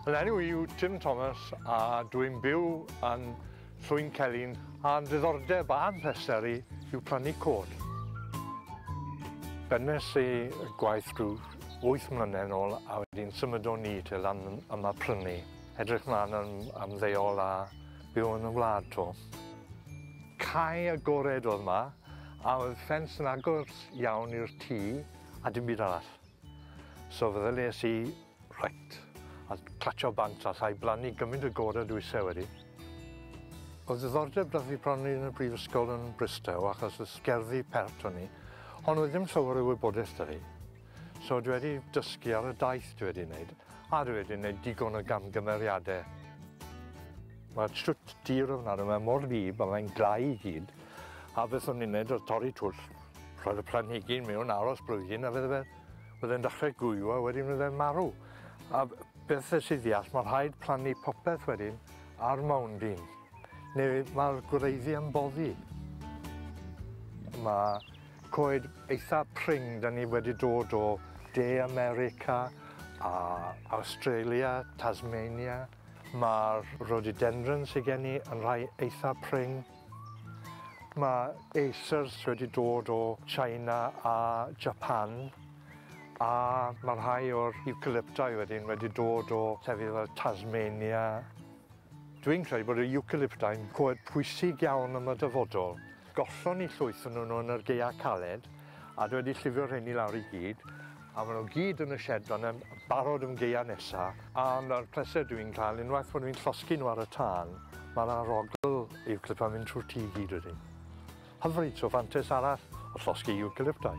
Fy enw i yw Tim Thomas a dwi'n byw yn Llwyn Celyn a'n diddordeb a'n pleser i yw plannu cod. Bennes i gwaith rhyw wyth mlynedd nôl a wedyn symudon ni te lan yma prynu. Edrych mlaen am ymddeol a byw yn y wlad to. Cae agored oedd yma a oedd ffens yn agos iawn i'r tŷ a dim byd arall. So feddylies i, reit, a clatsio bant a llai blannu gymryd y gore dwi se wedi. Oedd ddiddordeb da fi bron yn y brifysgol yn Bristow achos y sgerddi pert o'n i, ond oedd ddim llawer o wybodaeth da fi. So dwi wedi dysgu ar y daith dwi wedi wneud, a dwi wedi wneud digon o gamgymeriadau. Mae'r siwt dir ofnadw, mae mor wlyb a mae'n glau i gyd, a beth o'n i'n wneud oedd torri twll. Roedd y planhigyn mewn aros blwyddyn a fydde fe yn dechrau gwyw a wedyn fydde'n marw. A beth y sydd ddeall, mae rhaid plannu popeth wedyn ar mawnd un, neu mae'r gwreiddi yn boddi. Mae coed eitha pring, da ni wedi dod o De America a Australia, Tasmania. Mae'r rhododendron sydd gen i yn rhai eitha pring. Mae Acers wedi dod o China a Japan a mae rhai o'r Eucalypti wedyn wedi dod o llefydd fel Tasmania. Dwi'n credu bod y Eucalypti'n coed pwysig iawn am y dyfodol. Gollon ni llwyth o nhw yn yr gaeau caled a dwi wedi llifio rheini lawr i gyd A maen nhw gyd yn y shed fan'na yn barod am gaeau nesa. A ma'r pleser dwi'n cael unwaith bod fi'n llosgi nhw ar y tân, ma'r arogl iwcalypt yn mynd trwy'r tŷ i gyd wedyn. Hyfryd, so fantais arall o llosgi iwcalyptau.